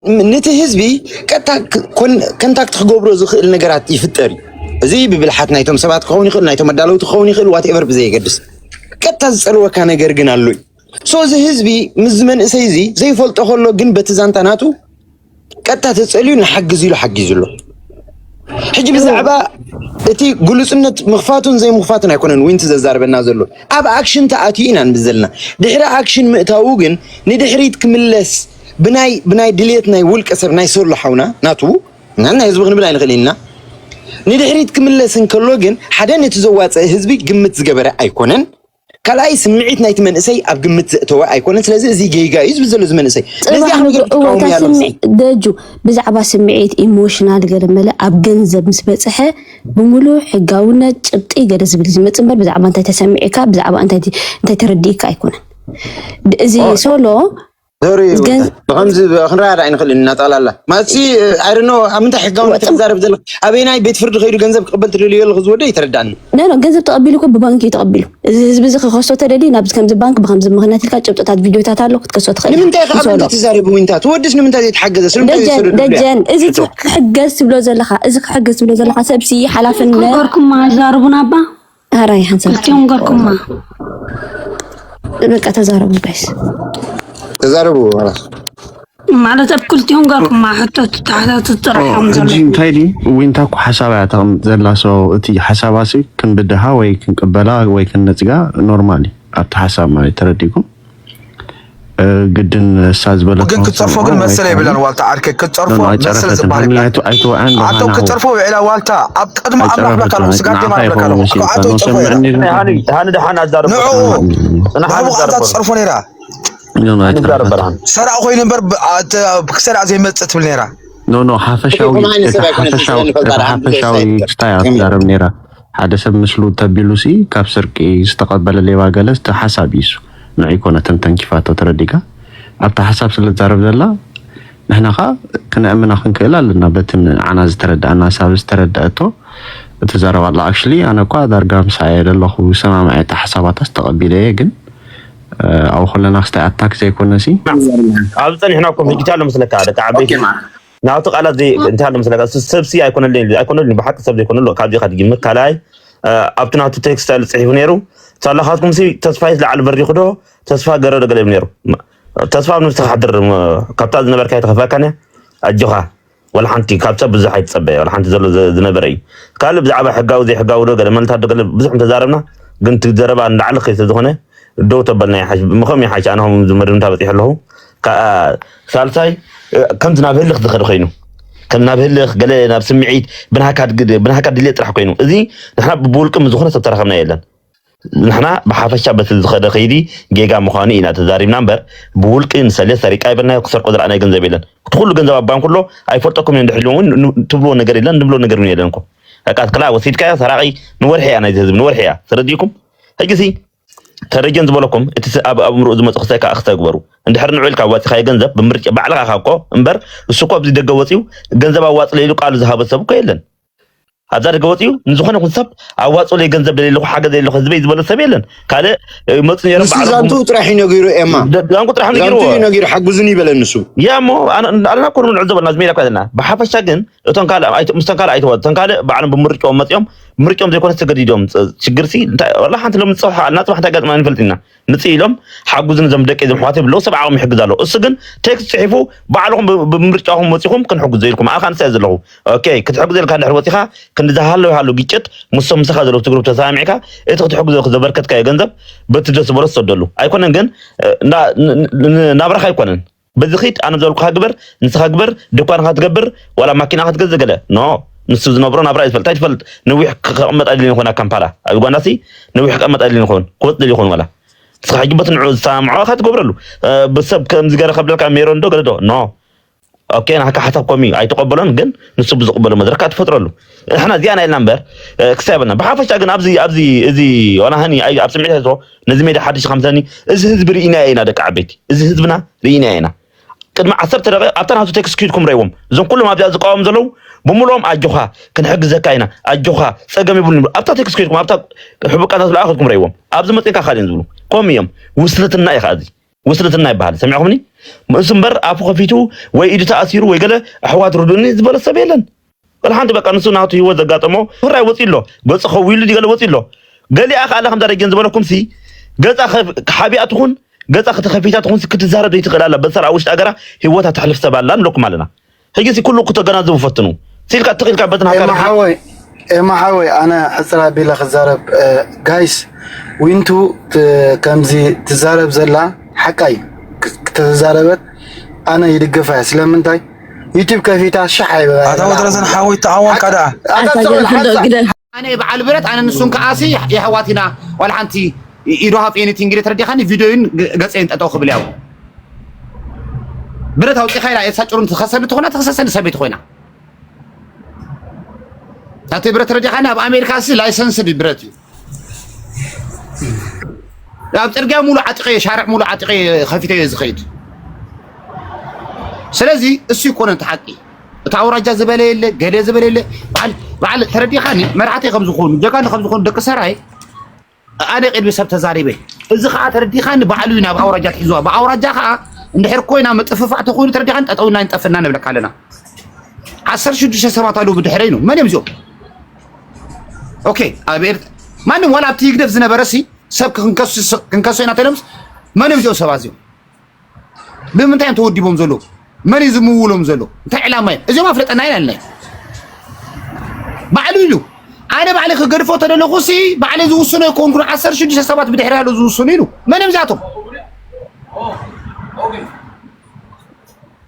ንቲ ህዝቢ ቀጥታ ከንታክት ክገብሮ ዝኽእል ነገራት ይፍጠር እዩ። እዚ ብብልሓት ናይቶም ሰባት ክኸውን ይኽእል፣ ናይቶም ኣዳለውቲ ክኸውን ይኽእል፣ ዋትኤቨር ብዘየገድስ ቀጥታ ዝፀልወካ ነገር ግን ኣሎ እዩ። ሶ እዚ ህዝቢ ምስዚ መንእሰይ እዚ ዘይፈልጦ ከሎ ግን በቲ ዛንታ ናቱ ቀጥታ ተፀልዩ ንሓግዝ ኢሉ ሓጊዙ ኣሎ። ሕጂ ብዛዕባ እቲ ግሉፅነት ምኽፋቱን ዘይምኽፋቱን ኣይኮነን ዊንቲ ዘዛርበና ዘሎ ኣብ ኣክሽን ተኣትዩ ኢና ንብል ዘለና። ድሕሪ ኣክሽን ምእታዉ ግን ንድሕሪት ክምለስ ብናይ ብናይ ድሌት ናይ ውልቀ ሰብ ናይ ሶሎ ሓውና ናቱ እና ናይ ህዝቢ ክንብል ኣይንኽእልን ኢና ንድሕሪት ክምለስ እንከሎ ግን ሓደ ነቲ ዘዋፀእ ህዝቢ ግምት ዝገበረ ኣይኮነን ካልኣይ ስምዒት ናይቲ መንእሰይ ኣብ ግምት ዘእተወ ኣይኮነን ስለዚ እዚ ጌጋ እዩ ዝብል ዘሎ እዚ መንእሰይ ነዚኣ ነገር ትቃወሙ ያለ ደጁ ብዛዕባ ስምዒት ኢሞሽናል ገለ መለ ኣብ ገንዘብ ምስ በፅሐ ብምሉእ ሕጋውነት ጭብጢ ገለ ዝብል ዝመፅ እምበር ብዛዕባ እንታይ ተሰሚዕካ ብዛዕባ እንታይ ተረዲእካ ኣይኮነን እዚ ሶሎ ዞሪ ብከምዚ ክንረኣያ ዳኣ ኣይንኽእልን ኢና ጠቕላላ ማለትሲ ኣይደኖ ኣብ ምንታይ ሕጋውነት ትዛረብ ዘለኽ ኣበየናይ ቤት ፍርዲ ከይዱ ገንዘብ ክቕበል ትደልዮ ኣለኹ ዝወደ ይተረዳእኒ ኖ ገንዘብ ተቐቢሉ እኮ ብባንኪ እዩ ተቐቢሉ እዚ ህዝቢ እዚ ክኸሶ ተደልዩ ናብ ከምዚ ባንክ ብከምዚ ምክንያት ኢልካ ጭብጥታት ቪድዮታት ኣሎ ክትከሶ ትኽእል ንምንታይ ከ ኣብ ምንታይ ትዛረብ ዊንታ ትወድስ ንምንታይ ዘይተሓገዘ ስለምንታይ ዘይሰደዱ ደጀን እዚ ክሕገዝ ትብሎ ዘለኻ እዚ ክሕገዝ ትብሎ ዘለኻ ሰብሲ ሓላፍነት ገርኩማ ዛርቡና እባ ሀራይ ሀንሰልትዮም ገርኩማ በቃ ተዛረቡ ጋይስ ተዛረቡ ማለት ኣብ ክልቲኦም ገርኩማ ሕቶ ትታሕታት ጥራሕዮም ዘሎ እንታይ ድዩ ዊንታ እኮ ሓሳብ እያ ተቕምጥ ዘላ ሰው እቲ ሓሳባሲ ክንብድሃ ወይ ክንቅበላ ወይ ክንነፅጋ ኖርማል እዩ ኣብቲ ሓሳብ ማለት ተረዲኩም ግድን እሳ ዝበለ ግን ክትጸርፎ ግን መሰለ የብላን ዋልታ ዓርከ ክትጸርፎ መሰለ ዝበሃል ይብላን ኣቶ ክትጸርፎ ውዒላ ዋልታ ኣብ ቅድሚ ኣምላኽ ብለካ ኣለኹ ስጋት ደማ ብለካ ኣለኹ ኣቶ ይጸርፎ ሃኒ ደሓን ኣዛርብ ንዑ ንሕቡቓታ ትጸርፎ ነይራ ሰራቕ ኮይኑ እምበር ክሰራዕ ዘይመጽእ ትብል ነይራ ኖ ኖ ሓፈሻዊ ሓፈሻዊ ክስታይ ኣትዛረብ ነይራ ሓደ ሰብ ምስሉ ተቢሉሲ ካብ ስርቂ ዝተቀበለ ሌባ ገለ እቲ ሓሳብ እዩሱ ንዑይ ኮነ ተንተንኪፋቶ ተረዲጋ ኣብቲ ሓሳብ ስለ ትዛረብ ዘላ ንሕና ከኣ ክነእምና ክንክእል ኣለና በቲ ንዓና ዝተረደኣና ኣሳብ ዝተረደኣቶ እቲ ዘረባ ኣላ ኣክሽሊ ኣነ እኳ ዳርጋ ምሳኣ እየ ዘለኹ ሰማምዐ እቲ ሓሳባታስ ተቀቢለ እየ ግን ኣብ ኩለና ክስታይ ኣታክ ዘይኮነሲ ኣብኡ ጸኒሕና ኮፍ ዲጂታል መስለካ ደቂ ዓበይቲ ናቱ ቃላት ዘይ እንታይ ኣሎ መስለካ እሱ ሰብሲ ኣይኮነልን ኢሉ ኣይኮነልን ኢሉ ብሓቂ ሰብ ዘይኮነሉ ካብዚኻ ትጅምር ካልኣይ አ፣ ኣብቲ ናቱ ቴክስት ኣሉ ፅሒፉ ነይሩ ሳላኻትኩም ሲ ተስፋይት ላዕሊ በሪኹ ዶ ተስፋ ገረ ዶ ገለ ይብል ነይሩ ም- ተስፋ ኣብ ነብስኻ ሓድር ም፣ ካብታ ዝነበርካ ይተኸፈካን እያ ኣጆኻ ወላ ሓንቲ ካብ ሰብ ብዙሕ ኣይትፀበ ወላ ሓንቲ ዘሎ ዘ- ዝነበረ እዩ ካልእ ብዛዕባ ሕጋዊ ዘይሕጋዊ ዶ ገለ መልታት ዶ ገለ ብዙሕ እንተዛረብና ግን እቲ ዘረባ ንላዕሊ ከይ ስለዝኾነ ደው ተበልና ይሓሽ ምኸም ይሓሽ ኣነ ከም ዝመድምታ በፂሑ ኣለኹ ሳልሳይ ከምዚ ናብ ህልኽ ዝኸድ ኮይኑ ከም ናብ ህልኽ ገለ ናብ ስምዒት ብናሃካ ድልየ ጥራሕ ኮይኑ እዚ ንሕና ብውልቂ ዝኾነ ሰብ ተራኸብና የለን ንሕና ብሓፈሻ በቲ ዝኸደ ከይዲ ጌጋ ምዃኑ ኢና ተዛሪብና እምበር ብውልቂ ንሰለ ሰሪቃ ይበልናዮ ክሰርቆ ዝረኣናዮ ገንዘብ የለን እቲ ኩሉ ገንዘብ ኣብ ባንክ ኣሎ ኣይፈልጠኩም እዮም ድሕልዎ እውን ትብልዎ ነገር የለን ንብሎ ነገር እውን የለን እኮ ዕቃት ክላ ወሲድካዮ ሰራቂ ንወርሒ እያ ናይዚ ህዝቢ ንወርሒ እያ ተረዲእኩም ሕጂ ሲ ተረጀን ዝበለኩም እቲ ኣብ ኣእምሮኡ ዝመጽ ክሰካ ክተግበሩ እንድሕር ንዑ ኢልካ ኣዋጺኻዮ ገንዘብ ብምርጫ ባዕልኻ ኢኻ እኮ እምበር እሱ እኮ ኣብዚ ደገ ወጽዩ ገንዘብ ኣዋጽለ ኢሉ ቃሉ ዝሃበ ሰብ እኮ የለን ኣብዛ ደገ ወጽዩ ንዝኾነ ይኹን ሰብ ኣዋጽለይ ገንዘብ ደለለኹ ሓገዝ ደለለኹ ህዝበይ ዝበለ ሰብ የለን ካልእ መጹ ነይሮም ንሱ ባዕሎም ዛንትኡ ጥራሕ እዩ ነጊሩ ኤማ ዛንቁ ጥራሕ ዛንትኡ እዩ ነጊርዎ ነጊሩ ሓግዙኒ ይበለ ንሱ ያ እሞ ኣና እኮ ንዕዘቦ ናብዚ ሜዳ እኮ ዘለና ብሓፈሻ ግን እቶም ካልእ ኣይተ- ምስቶም ካልእ ኣይተወ እቶም ካልእ ባዕሎም ብምርጭኦም መፅኦም ምርጭኦም ዘይኮነ ተገዲዶም ፅ- ችግርሲ እንታይ ወላ ሓንቲ ሎም ንፅባሕ ኣልና ፅባሕ እንታይ ገጥማ ንፈልጥ ኢና ንፅ ኢሎም ሓጉዝን እዞም ደቂ እዞም ኣሕዋት ብለው ሰብ ዓቕሚ ይሕግዝ ኣሎ እሱ ግን ቴክስት ፅሒፉ ባዕልኹም ብ- ብምርጫኹም ወፂኹም ክንሕግዞ ኢልኩም ኣኻ ንስያ ዘለኹ ኦኬ ክትሕግዞ ኢልካ ድሕሪ ወፂኻ ክንዲ ዝሃለው ይሃሉ ግጭት ምሶም ምሳኻ ዘለዉ ትግሩብ ተሰማሚዕካ እቲ ክትሕግዞ ኢልኩ ዘበርከትካዮ ገንዘብ በቲ ደስ ዝበሎ ዝሰደሉ ኣይኮነን ግን እ፣ ና- ን- ን- ናብራኻ ኣይኮነን በዚ ኪድ ኣነ ዝበልኩኻ ግበር ንስኻ ግበር ድኳንኻ ትገብር ዋላ ማኪናኻ ትገዝእ ገለ ን ንሱ ዝነብሮ ናብራ እዩ ዝፈልጥ ታይ ትፈልጥ ንዊሕ ክቐመጥ ኣይደልን ይኾን ኣብ ካምፓላ ኣብ ዩጋንዳ ሲ ንዊሕ ክቐመጥ ኣይደልን ይኾን ክወጽእ ደልዩ ይኾን ዋላ ንስኻ ሕጂ በቲ ንዕኡ ዝሰማምዖ ኢኻ ትገብረሉ ብሰብ ከምዚ ገረ ከብለልካ ሜሮን ዶ ገለ ዶ ን ኦኬ ናካ ሓሳብ ኮሚ ኣይተቀበሎን ግን ንሱ ብዝቅበሎ መድረክ ትፈጥረሉ ንሕና እዚኣ ናይልና እምበር ክሳብ ብሓፈሻ ግን ኣብዚ ኣብዚ እዚ ዋላ ሃኒ ኣብ ስምዒት ኣይትዎ ነዚ ሜዳ ሓድሽ ከምሰኒ እዚ ህዝቢ ርኢናዮ ኢና ደቂ ዓበይቲ እዚ ህዝብና ርኢናዮ ኢና ቅድሚ ዓሰርተ ደቂቕ ኣብታ ናቱ ቴክስ ኪድኩም ረይዎም እዞም ኩሎም ኣብዚኣ ዝቃወሙ ዘለዉ ብምልኦም ኣጆኻ ክንሕግዘካ ኢና ኣጆኻ ፀገም ይብሉ ኣብታ ቴክስ ኪድኩም ኣብታ ሕቡቃታት ዝለኣኸትኩም ረይዎም ኣብዚ መፅንካ ካልእን ዝብሉ ከምኡ እዮም ውስልትና እዩ ከዓ እዚ ውስልትና ይበሃል ሰሚዕኹምኒ እሱ እምበር ኣፉ ከፊቱ ወይ ኢዱ ተኣሲሩ ወይ ገለ ኣሕዋት ርዱኒ ዝበለ ሰብ የለን ወላ ሓንቲ በቃ ንሱ ናቱ ህይወት ዘጋጠሞ ፍራይ ወፂ ኣሎ ገፁ ከዊሉ ገለ ወፂ ኣሎ ገሊኣ ከዓ ኣላ ከምዛ ደጀን ዝበለኩም ሲ ገፃ ሓቢኣ ትኹን ገፃ ከተከፊታ ትኹን ክትዛረብ ዘይትኽእል ኣላ በሰራ ውሽጢ ሃገራ ህይወታ ተሕልፍ ሰብ ኣላ ንለኩም ኣለና ሕጂ እዚ ኩሉ ክተገናዝቡ ፈትኑ ሲልካ ትኽ ኢልካ በትን ሃገር ኤማሓወይ ኤማሓወይ ኣነ ሕፅር ኣቢለ ክዛረብ ጋይስ ዊንቱ ከምዚ ትዛረብ ዘላ ሓቃይ ክተዛረበት ኣነ ይድገፋ እያ ስለምንታይ ዩቲብ ከፊታ ሻሕ ኣይበላ ኣታ ወደረዘን ሓወይ ተዓወንካ ደኣ ኣነ እየ በዓል ብረት ኣነ ንሱን ከዓሲ የሕዋት ኢና ዋላ ሓንቲ ኢዶ ሃፍ ኤኒቲንግ ኢለ ተረዲኻኒ ቪድዮይን ገፀይን ጠጠው ክብል ያው ብረት ኣውፂኻ ኢላ ኤልሳ ጭሩን ትኸሰኒ ትኾና ትኽሰሰኒ ሰበይቲ ኮይና ናተይ ብረት ተረዲኻኒ ኣብ ኣሜሪካ ሲ ላይሰንስድ ብረት እዩ ኣብ ፅርግያ ሙሉ ዓጢቐየ ሻርዕ ሙሉ ዓጢቐየ ከፊተየ ዝኸይድ ስለዚ እሱ ይኮነን እቲ ሓቂ እቲ ኣውራጃ ዝበለ የለ ገለ ዝበለ የለ በዓል ተረዲኻኒ መራሕቲ ከም ዝኾኑ ጀጋኑ ከም ዝኾኑ ደቂ ሰራይ ኣነ ቅድሚ ሰብ ተዛሪበ እዚ ከዓ ተረዲኻኒ ባዕሉ እዩ ናብ ኣውራጃ ትሕዝዋ ብኣውራጃ ከዓ እንድሕር ኮይና ምጥፍፋዕ ተኮይኑ ተረዲኻኒ ጠጠውና ይንጠፍና ንብለካ ኣለና ዓሰርተ ሽዱሽተ ሰባት ኣለዉ ብድሕረይ ነው መን እዮም እዚኦም ኦኬ ኣብ ኤርት ማንም ዋላ ኣብቲ ይግደፍ ዝነበረ ሲ ሰብ ክንከሶ ኢና ተሎምስ መን እዮም እዚኦም ሰባት እዚኦም ብምንታይ እዮም ተወዲቦም ዘለዉ? መን እዩ ዝምውሎም ዘሎ? እንታይ ዕላማ እዩ? እዚኦም ኣፍለጠና ኢና ኣለና ባዕሉ ኢሉ ኣነ ባዕለ ክገድፎ ተደለኹ ሲ ባዕለ ዝውስኖ ይኮንኩ ዓሰርተ ሽዱሽተ ሰባት ብድሕሪ ያሉ ዝውስኑ ኢሉ መን እዮም እዚኣቶም?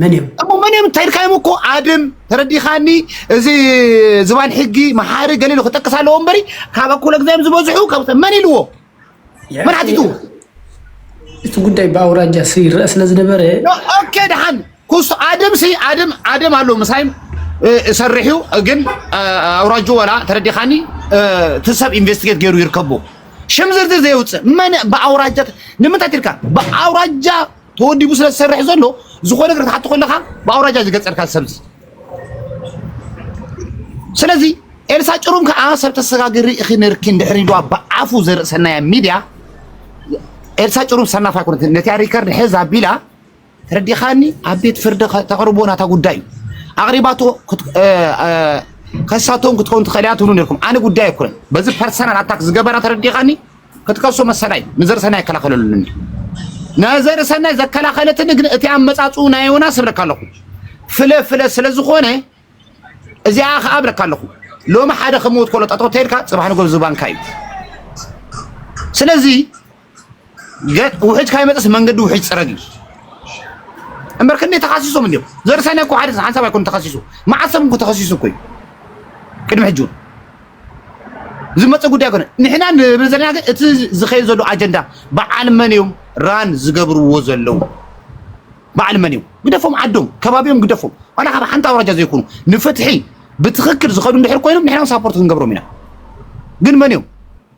መን እዮም እሞ መን እዮም እንታይ ኢልካዮም እኮ ኣድም ተረዲኻኒ እዚ ዝባን ሕጊ መሓሪ ገሊሉ ክጠቅስ ኣለዎ እምበሪ ካብ ኣኩለ ግዛዮም ዝበዝሑ ካብ መን ኢልዎ መን ሓቲቱ እቲ ጉዳይ ብኣውራጃ ይረአ ስለ ዝነበረ ኦኬ ድሓን ኩስ ኣድም ሲ ኣድም ኣድም ኣሎ ምሳይም ሰርሑ ግን ኣውራጁ ወላ ተረዲኻኒ ትሰብ ኢንቨስቲጌት ገይሩ ይርከቡ ሽም ዝርዝር ዘየውፅእ መን ብኣውራጃ ንምንታይ ትልካ ብኣውራጃ ተወዲቡ ስለ ዝሰርሕ ዘሎ ዝኾነ ነገር ክትሓቶ ከለኻ ብኣውራጃ ዝገጸርካ ሰብስ ስለዚ ኤልሳ ጭሩም ከዓ ሰብ ተሰጋግሪ እኺ ነርኪ እንድሕሪ ኢልዋ ብኣፉ ዘርእሰናያ ሚድያ ኤልሳ ጭሩም ሰናፍ ኣይኮነት ነቲያ ሪከርድ ሕዝ ኣቢላ ተረዲኻኒ ኣብ ቤት ፍርዲ ተቕርቦ ናታ ጉዳይ እዩ ኣቕሪባቶ ከሳቶም ክትከውን ትኽእል እያ ትብሉ ነርኩም ኣነ ጉዳይ ኣይኮነን በዚ ፐርሰናል ኣታክ ዝገበራ ተረዲኻኒ ክትከሶ መሰላ'ዩ፣ ንዘርእሰናይ ኣይከላኸለሉን እዩ። ንዘርእሰናይ ዘከላኸለትኒ ግን እቲ ኣመጻጽኡ ናይ ዮናስ እብለካ ኣለኹ ፍለ ፍለ ስለ ዝኾነ እዚኣ ከኣ እብለካ ኣለኹ ሎሚ ሓደ ከም ሞት ኮሎ ጠጠው ተልካ ጽባሕ ንጎ ዝባንካ እዩ ስለዚ ውሕጅ ካይመጽስ መንገዲ ውሕጅ ጽረግ እዩ እምበር ክንደይ ተኻሲሶም እንዲዮም ዘርሰነ እኮ ሓደ ሓንሳብ ኣይኮኑ ተኸሲሱ መዓሰብ እንኩ ተኸሲሱ እኮ እዩ ቅድሚ ሕጂ እውን ዝመፀ ጉዳይ ኮነ ንሕና ንብል ዘለና ግን እቲ ዝኸይድ ዘሎ ኣጀንዳ በዓል መን እዮም ራን ዝገብርዎ ዘለዉ በዓል መን እዮም ግደፎም ዓዶም ከባቢኦም ግደፎም ዋላ ካብ ሓንቲ ኣውራጃ ዘይኮኑ ንፍትሒ ብትኽክል ዝኸዱ እንድሕር ኮይኖም ንሕና ሳፖርት ክንገብሮም ኢና ግን መን እዮም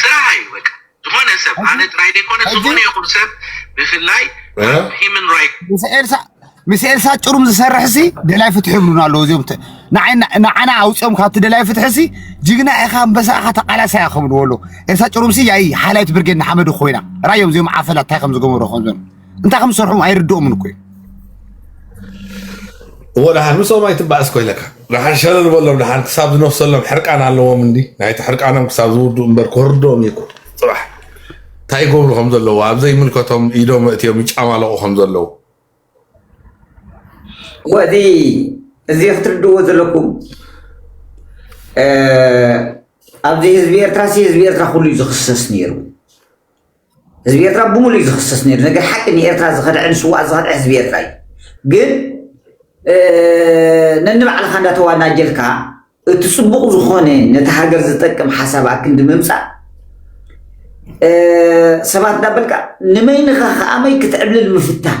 ስራሕ እዩ በቃ ዝኾነ ሰብ ኣነ ጥራይ ዘይኮነ ዝኾነ ይኹን ሰብ ብፍላይ ሂምን ራይት ምስ ኤልሳ ጭሩም ዝሰርሕ ሲ ደላይ ፍትሒ ይብሉና ኣለዉ እዚኦም ንዓና ኣውፅኦም ካብቲ ደላይ ፍትሒ ሲ ጅግና ኢኻ ኣንበሳ ኢኻ ተቃላሳይ ኢኻ ክብልዎ ኣለዉ ኤልሳ ጭሩም ሲ ያይ ሓላይት ብርጌድ ንሓመዱ ኮይና ራዮም እዚኦም ዓፈላ እንታይ ከም ዝገበሩ ከምዞም እንታይ ከም ዝሰርሖም ኣይርድኦምን እኮ እዩ እዎ ደሓን ምስኦም ኣይትባእስ ኮይለካ ደሓን ሸለ ዝበሎም ደሓን ክሳብ ዝነፍሰሎም ሕርቃን ኣለዎም እንዲ ናይቲ ሕርቃኖም ክሳብ ዝውዱ እምበር ክወርዶም እዩ ፅባሕ እንታይ ይገብሩ ከም ዘለዉ ኣብ ዘይምልከቶም ኢዶም እትዮም ይጫማለቑ ከም ዘለዉ ወዚ እዚ ክትርድዎ ዘለኩም ኣብዚ ህዝቢ ኤርትራ ሲ ህዝቢ ኤርትራ ኩሉ እዩ ዝኽሰስ ነይሩ ህዝቢ ኤርትራ ብሙሉእ እዩ ዝኽሰስ ነይሩ። ነገር ሓቂ ንኤርትራ ዝኸድዐ ንስዋኣት ዝኸድዐ ህዝቢ ኤርትራ እዩ። ግን ነንባዕልኻ እንዳተዋናጀልካ እቲ ጽቡቕ ዝኾነ ነቲ ሃገር ዝጠቅም ሓሳብ ኣክንዲ ምምጻእ ሰባት እንዳበልካ ንመይንኻ ከኣመይ ክትዕብልል ምፍታን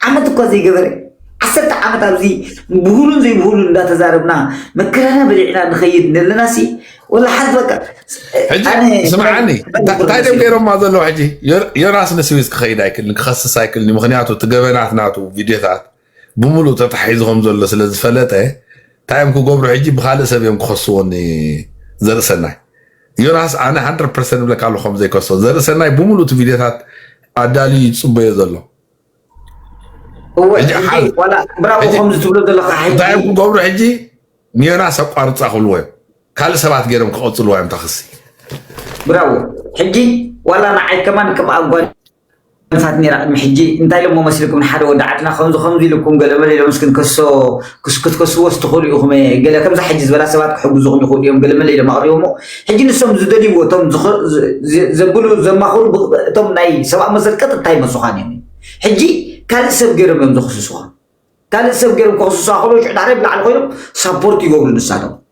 ዓመት እኳ ዘይገበረ ዓሰርተ ዓመት ኣብዚ ብሁሉን ዘይብሁሉን እንዳተዛረብና መከራና በሊዕና ንኸይድ ነለናሲ ወላ ሓዝ በቃ ሕጂ ስምዓኒ እንታይ ደም ገይሮማ ዘለዉ ሕጂ ዮናስ ንስዊዝ ክኸይድ ኣይክልን ክኸስስ ኣይክልን ምክንያቱ እቲ ገበናት ናቱ ቪድዮታት ብምሉእ ተታሒዙ ከም ዘሎ ስለ ዝፈለጠ እንታይ እዮም ክገብሩ ሕጂ ብካልእ ሰብ እዮም ክኸስዎ ዘርእሰናይ ዮናስ ኣነ ሃንድረድ ፐርሰንት እብለካ ኣለኹ ከም ዘይከሶ ዘርኢ ሰናይ ብምሉእ እቲ ቪድዮታት ኣዳልዩ እዩ ዝፅበዮ ዘሎ እወ ሕጂ ሕጂ ሓዝ ዋላ ብራቮ ሕጂ ከምዚ ትብሎ ዘለካ እንታይ ሕጂ እዮም ክገብሩ ሕጂ ንዮናስ ኣቋርፃ ክብልዎ እዮም ካልእ ሰባት ገይሮም ክቐፅልዋ እዮም ታክሲ ብራቮ ሕጂ ዋላ ንዓይ ከማን ከም ኣጓኒ ኣንሳት ኔራ ቅድሚ ሕጂ እንታይ ኢሎሞ መስልኩም ንሓደ ወዲ ዓድና ከምዚ ከምዚ ኢሉኩም ገለመለ ኢሎም እስኪ ንከሶ ክትከስዎስ ትኽእሉ ኢኹም እየ ገለ ከምዛ ሕጂ ዝበላ ሰባት ክሕግዙኹም ይኽእሉ እዮም ገለመለ ኢሎም ኣቕሪቦሞ ሕጂ ንሶም ዝደልይዎ እቶም ዘብሉ ዘማኽሩ እቶም ናይ ሰብኣዊ መሰል ቀጥታ ይመጹኻን እዮም ሕጂ ካልእ ሰብ ገይሮም እዮም ዘኽስሱኻ ካልእ ሰብ ገይሮም ከኽስሱኻ ከሎ ሽዑ ዳሕራይ ብላዕሊ ኮይኖም ሳፖርት ይገብሩ ንሳቶም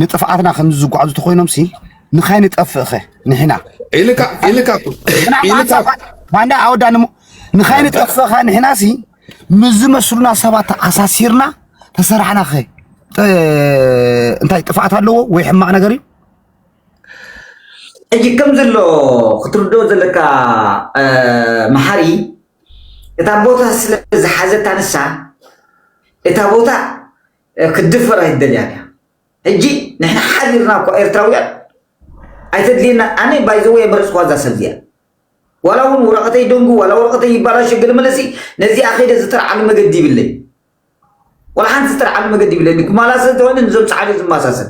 ንጥፍኣትና ከምዚ ዝጓዓዙ ተኾይኖምሲ ንኸይንጠፍእኸ ንሕና ኢልካ ኢልካ ኢልካ ማንዳ ኣወዳኒ እሞ ንኸይንጠፍእኸ ንሕናሲ ምስ ዝመስሉና ሰባት ተኣሳሲርና ተሰራሕናኸ እንታይ ጥፍኣት ኣለዎ ወይ ሕማቕ ነገር እዩ ሕጂ ከም ዘሎ ክትርድኦ ዘለካ መሓሪ እታ ቦታ ስለ ዝሓዘታ ንሳ እታ ቦታ ክትድፈር ኣይትደልያን እያ ሕጂ ንሕና ሓቢርና እኳ ኤርትራውያን ኣይተድልየናን ኣነ ባይ ዘ ወይ ኣይመረጽኳ እዛ ሰብ እዚኣ ዋላ እውን ወረቐተይ ደንጉ ዋላ ወረቐተይ ይባላሽ ገለ መለሲ ነዚኣ ከይደ ዝጥርዓሉ መገዲ ይብለይ ዋላ ሓንቲ ዝጥርዓሉ መገዲ ይብለይ ንጉማላ ስለዝኾነ ንዞም ጻዕዱ ዝመሳሰል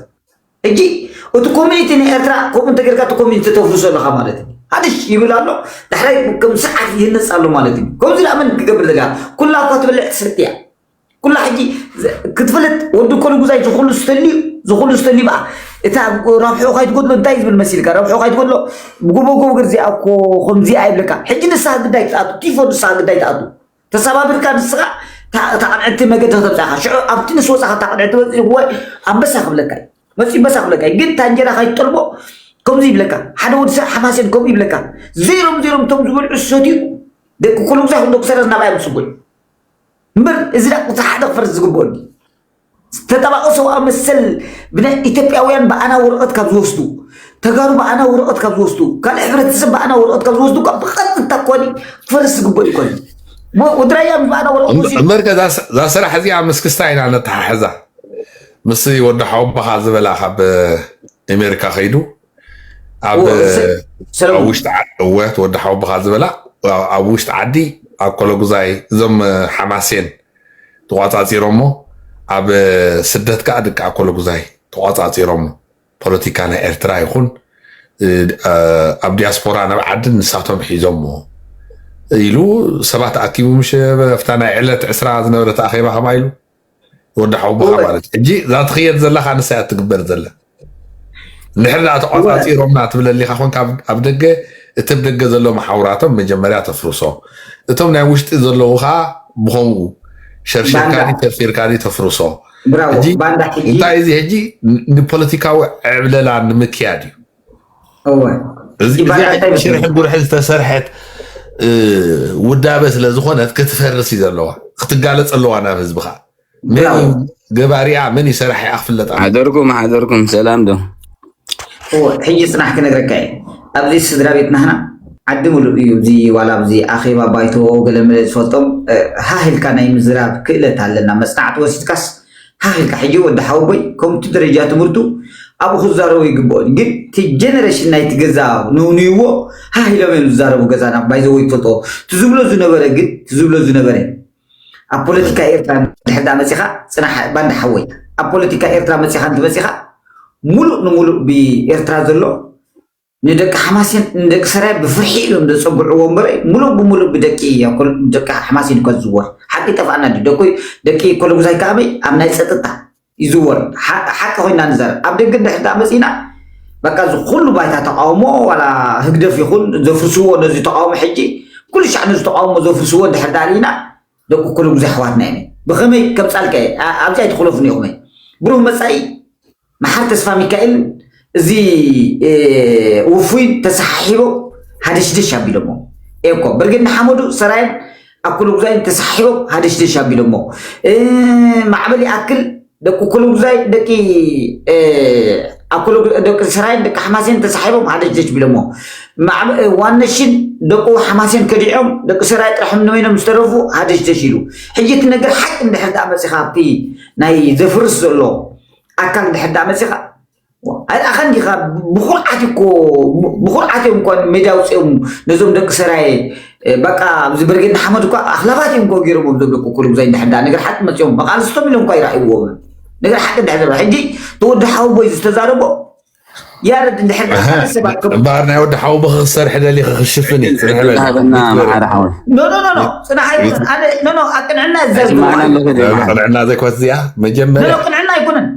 ሕጂ እቲ ኮሚኒቲ ንኤርትራ ከምኡ እንተገርካ እቲ ኮሚኒቲ ተፍርሶ ኣለኻ ማለት እዩ ሃድሽ ይብል ኣሎ ዳሕራይ ከም ሰዓት ይህነጽ ኣሎ ማለት እዩ ከምዚ ደኣ መን ክገብር ዘጋ ኩላ እኳ ትበልዕ ትሰቲ እያ ኩላ ሕጂ ክትፍልጥ ወዲ ኮልጉዛይ ዝኩሉ ዝተልዩ ዝኩሉ ዝተልዩ በኣ እታ ረብሑ ከይትጎድሎ እንታይ ዝብል መሲልካ ረብሑ ከይትጎድሎ ብጎቦጎ ገር እዚኣ እኮ ከምዚኣ ይብለካ ሕጂ ንስኻ ግዳይ ትኣቱ ቲፎ ንስኻ ግዳይ ትኣቱ ተሰባቢርካ ንስኻ ታቕንዕቲ መገዲ ከተብፅያ ኢኻ ሽዑ ኣብቲ ንስ ወፃኻ ታቕንዕቲ መፅኡ ወይ ኣንበሳ ክብለካ እዩ መፅኡ ኣንበሳ ክብለካ እዩ ግን ታንጀራ ከይትጠልቦ ከምዚ ይብለካ ሓደ ወዲ ሰብ ሓማሴን ከምኡ ይብለካ ዜሮም ዜሮም እቶም ዝበልዑ ዝሰትዩ ደቂ ኮልጉዛይ ክንዶ ክሰረዝ ናብኣዮም ፅጉይ እምበር እዚ ዳኣ ቁፅሪ ሓደ ክፈርስ ዝግብኦ ድዩ? ዝተጣባቂ ሰብኣዊ መሰል ብናይ ኢትዮጵያውያን ብኣና ወረቐት ካብ ዝወስዱ ተጋሩ ብኣና ወረቐት ካብ ዝወስዱ ካልእ ሕብረተሰብ ብኣና ወረቐት ካብ ዝወስዱ ካብ ብቐጥታ ኮኒ ክፈርስ ዝግብኦ እዩ ኮኒ ወድራያ ምስ ብኣና ወረቐት ወሲዱ እምበርከ እዛ ስራሕ እዚኣ ምስ ክስታ ኢና ነተሓሕዛ ምስ ወዲ ሓወቦኻ ዝበላ ካብ ኣሜሪካ ከይዱ ኣብ ውሽጢ ዓዲ እወት ወዲ ሓውብኻ ዝበላ ኣብ ውሽጢ ዓዲ ኣብ ኮሎጉዛይ እዞም ሓማሴን ተቋፃፂሮሞ ኣብ ስደት ከዓ ድቂ ኮሎጉዛይ ተቋፃፂሮሞ ፖለቲካ ናይ ኤርትራ ይኹን ኣብ ዲያስፖራ ናብ ዓዲ ንሳቶም ሒዞሞ ኢሉ ሰባት ኣኪቡ ምሸ ኣብታ ናይ ዕለት ዕስራ ዝነበረት ኣኼባ ከማ ኢሉ ወዲ ሓውቦኻ ጎበዝ ማለት እዩ ሕጂ እዛ ትኽየድ ዘለኻ ንሳ እያ እትግበር ዘላ እንድሕር ደኣ እወ ተቋፃፂሮምና ትብለሊኻ ኮንካ ኣብ ኣብ ደገ እቲ ኣብ ደገ ዘሎ መሓውራቶም መጀመርያ ተፍርሶ እቶም ናይ ውሽጢ ዘለዉ ከዓ ብከምኡ ሸርሽርካ ባንዳ ድዩ ሸርፊርካ ድዩ ተፍርሶ ብራቮ ሕጂ ባንዳ ሕጂ እንታይ እዚ ሕጂ ን- ንፖለቲካዊ ዕብለላ ንምክያድ እዩ እዚ ሽርሒ ጉርሒ ዝተሰርሐት ውዳበ ስለ ዝኾነት ክትፈርስ እዩ ዘለዋ ክትጋለፅ ኣለዋ ናብ ህዝቢ ከዓ መን ገባሪኣ መን እዩ ሰራሒኣ ክፍለጥ ሓደርኩም ሓደርኩም ሰላም ዶ ሕጂ ፅናሕ ክነግረካ እየ ኣብዚ ስድራ ቤት ናህና ዓዲ ምሉእ እዩ እዚ ዋላ ኣብዚ ኣኼባ ባይቶ ገለመለ ዝፈልጦም ሃህልካ ናይ ምዝራብ ክእለት ኣለና መፅናዕቲ ወሲድካስ ሃኽ ኢልካ ሕጂ ወዲ ሓወቦይ ከምኡ እቲ ደረጃ ትምህርቱ ኣብኡ ክዛረቦ ይግብኦ እዩ ግን እቲ ጀነሬሽን ናይቲ ገዛ ነውንይዎ ሃህ ኢሎም እዮም ዝዛረቡ ገዛና ባይዘወይ ትፈልጥዎ እቲ ዝብሎ ዝነበረ ግን እቲ ዝብሎ ዝነበረ ኣብ ፖለቲካ ኤርትራ ድሕር ዳ መፂኻ ፅናሕ ባንዳ ሓወይ ኣብ ፖለቲካ ኤርትራ መፂኻ እንትመፂኻ ሙሉእ ንሙሉእ ብኤርትራ ዘሎ ንደቂ ሓማሴን ንደቂ ሰራየ ብፍርሒ ኢሎም ዘጸግዕዎ እምበረይ ሙሉእ ብሙሉእ ብደቂ ደቂ ሓማሴን እኳ ዝዝወር ሓቂ ይጠፍኣና ድዩ ደቂ ደቂ ኮሎጉዛይ ከኣ ኣበይ ኣብ ናይ ጸጥታ ይዝወር ሓ- ሓቂ ኮይና ንዛረብ ኣብ ደገ እንድሕር ደኣ መጺእና በቃ እዚ ኩሉ ባይታ ተቃውሞ ዋላ ህግደፍ ይኹን ዘፍርስዎ ነዚ ተቃውሞ ሕጂ ኩሉ ሻዕ ነዚ ተቃውሞ ዘፍርስዎ እንድሕር ደኣ ርኢና ደቁ ኩሉጉ ዘሕዋትና ኢነ ብኸመይ ከምጻልካ እየ ኣብዚ ኣይትኹለፉኒ ኢኹም እየ ብሩህ መጻኢ መሓር ተስፋ ሚካኤልን እዚ ውፉይን ተሰሓሒቦ ሃደሽደሽ ኣቢሎሞ እኮ ብርጌድ ንሓመዱ ሰራየን ኣኩሉ ጉዛይን ተሰሓሒቦም ሃደሽደሽ ኣቢሎሞ ማዕበል ይኣክል ደቂ ኩሉጉዛይ ደቂ ደቂ ሰራይን ደቂ ሓማሴን ተሳሒቦም ሃደጅደጅ ቢሎሞ ዋነሽን ደቁ ሓማሴን ከዲዖም ደቂ ሰራይ ጥራሕ ንበይኖም ዝተረፉ ሃደጅደጅ ኢሉ ሕጂ እቲ ነገር ሓቂ እንድሕር ዳኣ መፂኻ ኣብቲ ናይ ዘፍርስ ዘሎ ኣካል እንድሕር ዳኣ መፂኻ ኣይርኣኻን ዲኻ ብኹርዓት እኮ ብኹርዓት እዮም እኳ ሜዳ ውፅኦም ነዞም ደቂ ሰራየ በቃ ኣብዚ ብርጌድ ንሓመድ እኳ ኣኽላባት እዮም እኮ ገይሮምም ዞም ደቂ ኩሉ ብዛይ እንድሕዳ ነገር ሓቂ መፅኦም መቃልስቶም ኢሎም እኳ ይረኣይዎም ነገር ሓቂ እንድሕር ዘረባ ሕጂ ተወዲ ሓውቦይ ዝተዛረቦ ያረድ እንድሕር ሰባት እምበኣር ናይ ወዲ ሓውቦ ክሰርሕ ደሊኸ ክሽፍን እዩ ፅንሕ በል ሃበና መሓሪ ሓወይ ኖ ኖ ኖ ኖ ፅናሕ ኣይኮነን ኣነ ኖ ኖ ኣብ ቅንዕና እዛዝ ቅንዕና ዘይኮነት እዚኣ መጀመርያ ቅንዕና ኣይኮነን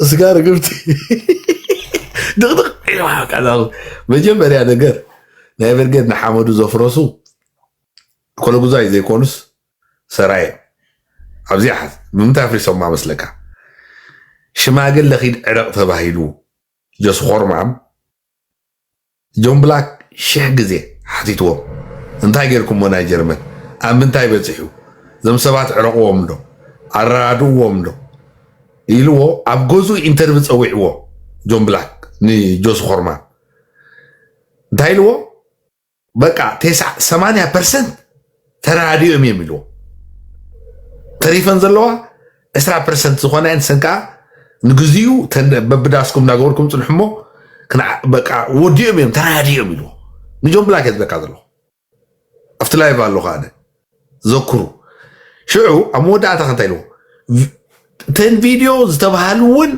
ስጋ ርግብቲ ድቕድቕ ኢልዋ በቃ እዛ ቁ- መጀመርያ ነገር ናይ ብርጌድ ንሓመዱ ዘፍረሱ ኮለጉዛይ ዘይኮኑስ ሰራየ ኣብዚ ሓዝ ብምንታይ ኣፍሪሶማ መስለካ ሽማግለ ኪድ ዕረቕ ተባሂሉ ጀስኾርማም ጆን ብላክ ሽሕ ግዜ ሓቲትዎም እንታይ ጌርኩሞ ናይ ጀርመን ኣብ ምንታይ በጺሑ እዞም ሰባት ዕረቅዎም ዶ ኣረዳድእዎም ዶ ኢልዎ ኣብ ገዝኡ ኢንተርቪ ጸዊዕዎ ጆን ብላክ ንጆሲ ኮርማን እንታይ ኢልዎ በቃ ቴስዓ ሰማንያ ፐርሰንት ተራዲኦም እዮም ኢልዎ ተሪፈን ዘለዋ ዕስራ ፐርሰንት ዝኾና እየን ሰን ከዓ ንግዚኡ በብዳስኩም እናገበርኩም ፅንሑ እሞ በቃ ወዲኦም እዮም ተራዲኦም ኢልዎ ንጆን ብላክ እየ ዝበካ ዘለኹ ኣብቲ ላይቭ ኣሎ ከዓነ ዘክሩ ሽዑ ኣብ መወዳእታ ከንታይ ኢልዎ እተን ቪድዮ ዝተባሃሉ እውን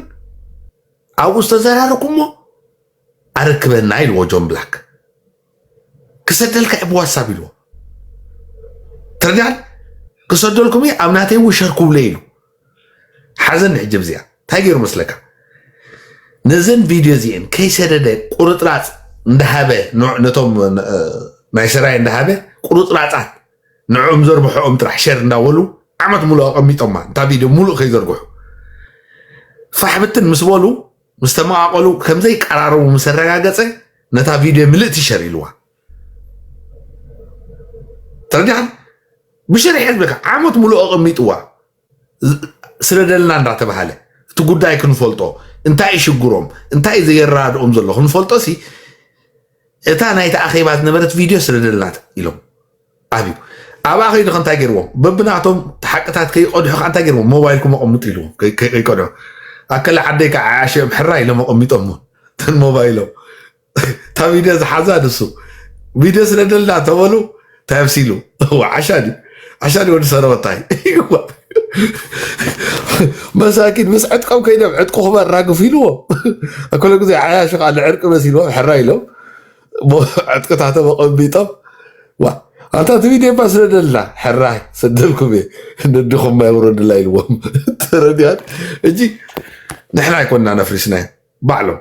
ኣብኡ ዝተዘራረኩሞ ኣረክበና ኢልዎ ጆን ብላክ ክሰደልካ ብ ዋትሳፕ ኢልዎ ትርዳን ክሰደልኩም እዩ ኣብ ናተይ እውን ሸር ክብሎ ኢሉ ሓዘኒ ሕጂ ብዚኣ እንታይ ገይሩ መስለካ ነዘን ቪድዮ እዚአን ከይሰደደ ቁርጥራፅ እንዳሃበ ነቶም ናይ ሰራይ እንዳሃበ ቁርጥራፃት ንዕኦም ዘርብሐኦም ጥራሕ ሸር እንዳበሉ ዓመት ሙሉእ ኣቐሚጦማ እንታ ቪድዮ ሙሉእ ከይዘርግሑ ፋሕብትን ምስ በሉ ምስ ተመቓቐሉ ከም ዘይቀራረቡ ምስ ኣረጋገጸ ነታ ቪድዮ ምልእቲ ሸር ኢልዋ ተረዲኻ ብሸሪሐ ዝብለካ ዓመት ሙሉእ ኣቐሚጥዋ ስለደልና እንዳተባሃለ እቲ ጉዳይ ክንፈልጦ እንታይ ሽግሮም እንታይ ዘየረዳድኦም ዘሎ ክንፈልጦ ሲ እታ ናይቲ ኣኼባ ዝነበረት ቪድዮ ስደደልናት ኢሎም ኣብዩ ኣብኣ ከይዱ ከእንታይ ገይርዎም በብናቶም ሓቅታት ከይቀድሑ ከ እንታይ ገይርዎም ሞባይልኩም ኣቐምጡ ኢልዎም ከይቀድሑ ኣከለ ዓደይ ከዓ ዓሽኦም ሕራ ኢሎም ኣቐሚጦሞ ተን ሞባይሎም እታ ቪድዮ ዝሓዛ ንሱ ቪድዮ ስለደልና ተበሉ እንታይ ኣብሲሉ እዋ ዓሻ ድዩ ዓሻ ድዩ ወዲ ሰረወታይ እዋ መሳኪን ምስ ዕጥቆም ከይዶም ዕጥቁኹም ኣራግፉ ኢልዎም ኩሉ ግዜ ዓያሹ ከዓ ንዕርቂ መሲልዎም ሕራ ኢሎም እሞ ዕጥቅታቶም ኣቐሚጦም ዋ ኣንታ እቲ ቪድዮ እባ ስደደልና ሕራ ስደልኩም እየ ንድኹም ማይ ውረድላ ኢልዎም ተረዲኣን እጂ ንሕና ኣይኮንና ነፍሪስናዮ ባዕሎም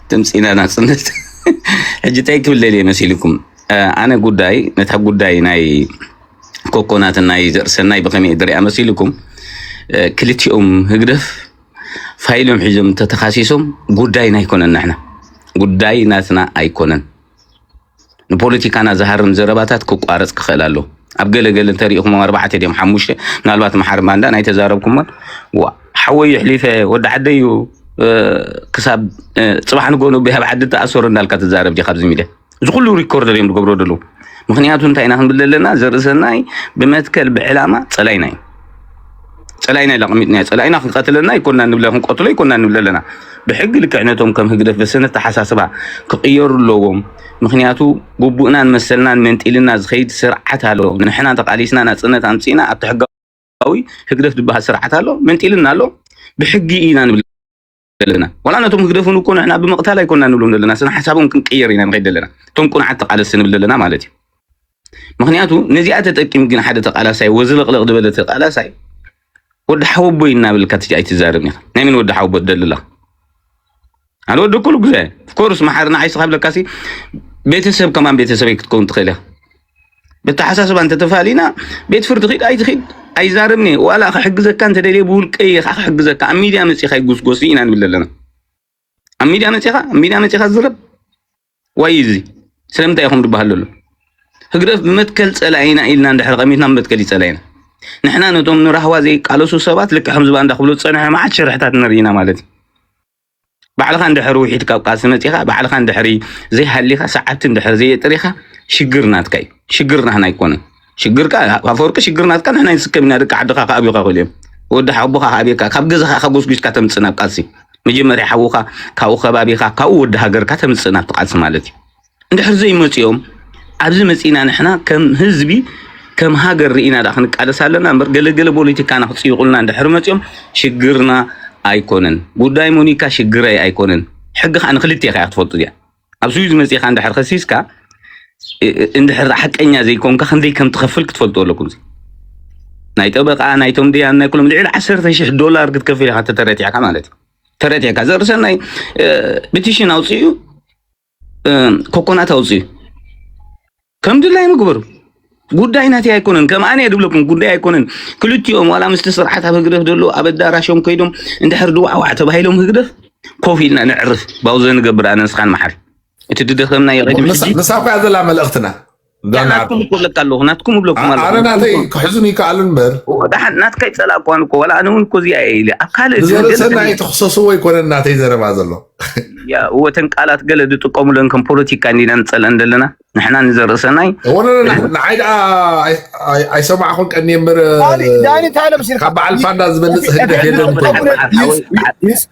ድምፂ ና ናፅነት ሕጂ ታይ ክብል ደልየ መሲልኩም ኣነ ጉዳይ ነታ ጉዳይ ናይ ኮኮናትን ናይ ዘርሰናይ ብከመይ ድሪያ መሲልኩም ክልቲኦም ህግደፍ ፋይሎም ሒዞም ተተካሲሶም ጉዳይና ኣይኮነን ንሕና ጉዳይ ናትና ኣይኮነን ንፖለቲካና ዝሃርም ዘረባታት ክቋረፅ ክኽእል ኣለዎ ኣብ ገለ ገለ እንተሪኢኹሞም ኣርባዕተ ድዮም ሓሙሽተ ምናልባት መሓሪ ባንዳ ናይ ተዛረብኩሞን ዋ- ሓወይ ይሕሊፈ ወዲ ዓደይ እዩ እ፣ ክሳብ እ፣ ፅባሕ ንጎኑ ብሃብ ዓዲ ተኣሰሩ እንዳልካ ትዛረብ ዲኻ ኣብዚ ሚድያ እዚ ኩሉ ሪኮርደር እዮም ዝገብሮ ደለዉ ምክንያቱ እንታይ ኢና ክንብል ዘለና ዘርእሰናይ ብመትከል ብዕላማ ፀላይና እዩ ፀላኢና ኢልና ኣቐሚጥናዮ። ፀላኢና ክንቀትለና ይኮና ንብለ ክንቀትሎ ይኮና ንብለ ኣለና። ብሕጊ ልክዕ ነቶም ከም ህግደፍ በሰነ ኣተሓሳስባ ክቕየሩ ኣለዎም። ምክንያቱ ግቡእናን መሰልናን መንጢልና ዝኸይድ ስርዓት ኣሎ። ንሕና ተቓሊስና ናፅነት ኣምፂእና ኣብቲ ሕጋዊ ህግደፍ ዝበሃል ስርዓት ኣሎ መንጢልና ኣሎ። ብሕጊ ኢና ንብል ዘለና ዋላ ነቶም ህግደፍን እኮ ንሕና ብምቕታል ኣይኮና ንብሎም ዘለና ስነ ሓሳቦም ክንቅየር ኢና ንኸይድ ዘለና እቶም ቁንዓት ተቃለስቲ ንብል ዘለና ማለት እዩ ምክንያቱ ነዚኣ ተጠቂም ግን ሓደ ተቃላሳይ ወዝልቕልቕ ዝበለ ተቃላሳይ ወዲ ሓወቦይ እናበልካ ኣይትዛረብ ኢኻ ናይ ምን ወዲ ሓወቦ ትደልላ ኣነ ወዲ ኩሉ ግዜ ኮርስ መሓርና ዓይስኻ ብለካሲ ቤተሰብ ከማን ቤተሰበይ ክትከውን ትኽእል ኢኻ ብተሓሳስባ እንተተፋሊና ቤት ፍርዲ ኪድ ኣይትኪድ ኣይዛረብን እየ ዋላ ክሕግዘካ እንተደልየ ብውልቀይ እየ ክሕግዘካ ኣብ ሚድያ መፂኻ ይጉስጎስ ኢና ንብል ኣለና ኣብ ሚድያ መፂኻ ኣብ ሚድያ መፂኻ ዝረብ ዋይ እዚ ስለምንታይ ኢኹም ዝበሃል ዘሎ ህግደፍ ብመትከል ፀላኢና ኢልና እንድሕር ቀሚትና ብመትከል ይፀላኢና ንሕና ነቶም ንራህዋ ዘይቃለሱ ሰባት ልክዕ ከምዚ ባንዳ ክብሉ ዝፀንሐ መዓት ሽርሕታት ንርኢ ኢና ማለት እዩ ባዕልኻ እንድሕር ውሒድ ካብ ቃልሲ መጺኻ ባዕልኻ እንድሕሪ ዘይሃሊኻ ሰዓብቲ እንድሕር ዘየጥሪኻ ሽግር ናትካ እዩ ሽግር ናህና ኣይኮነን ሽግርካ ኣፈወርቂ ሽግር ናትካ ንሕና ይንስከም ኢና ደቂ ዓድኻ ከኣብዩካ ክእሉ እዮም ወዲ ሓቦኻ ከኣብየካ ካብ ገዛኻ ኢኻ ጎስጒስካ ተምጽእ ናብ ቃልሲ መጀመርያ ሓውኻ ካብኡ ከባቢኻ ካብኡ ወዲ ሃገርካ ተምጽእ ናብቲ ቃልሲ ማለት እዩ እንድሕር ዘይመፂኦም ኣብዚ መፂእና ንሕና ከም ህዝቢ ከም ሃገር ርኢና ዳኣ ክንቃለስ ኣለና እምበር ገለገለ ፖለቲካና ክፅይቑልና እንድሕር መፂኦም ሽግርና ኣይኮነን ጉዳይ ሞኒካ ሽግረይ ኣይኮነን ሕጊ ከዓ ንክልቴኻ እያ ክትፈልጡ እዚኣ ኣብ ስዊዝ መፂእኻ እንድሕር ከሲስካ እንድሕር ሓቀኛ ዘይኮንካ ክንደይ ከም ትኸፍል ክትፈልጡ ኣለኩም እዚ ናይ ጠበቃ ናይቶም ድያን ናይ ኩሎም ልዕሊ ዓሰርተ ሽሕ ዶላር ክትከፍል ኢኻ ተተረቲዕካ ማለት እዩ ተረቲዕካ ዘርሰናይ ብትሽን ኣውፅኡ ኮኮናት ኣውፅኡ ከም ድላይ ምግበሩ ጉዳይ ናተይ ኣይኮነን ከም ኣነ ድብለኩም ጉዳይ ኣይኮነን ክልቲኦም ዋላ ምስቲ ስርዓት ኣብ ህግደፍ ደሎ ኣብ ኣዳራሾም ከይዶም እንድሕር ድዋዕዋዕ ተባሂሎም ህግደፍ ኮፍ ኢልና ንዕርፍ ባውዘ ንገብር ኣነ ንስኻን መሓሪ እቲ ድደኸምና ይቐድም ሕጂ ንሳ ኮያ ዘላ መልእኽትና ናትኩም እኮ ለካ ኣለኹ ናትኩም እብለኩም ኣለኹ ኣነ ናተይ ክሕዝን ይከኣል እምበር ወዳሓን ናትካ ይፀላእኳን እኮ ዋላ ኣነ እውን እኮ እዚኣ እየ ኢለ ኣብ ካልእ ብዘርእሰናይ ተክሰስዎ ኣይኮነን ናተይ ዘረባ ዘሎ ወተን ቃላት ገለ ዝጥቀሙለን ከም ፖለቲካ እንዲና ንፀልአን ዘለና ንሕና ንዘርእሰናይ ንዓይ ደኣ ኣይሰማዕኹን ቀኒ እምበር ካብ በዓል ፋንዳ ዝበልፅ ህግደፍ የለን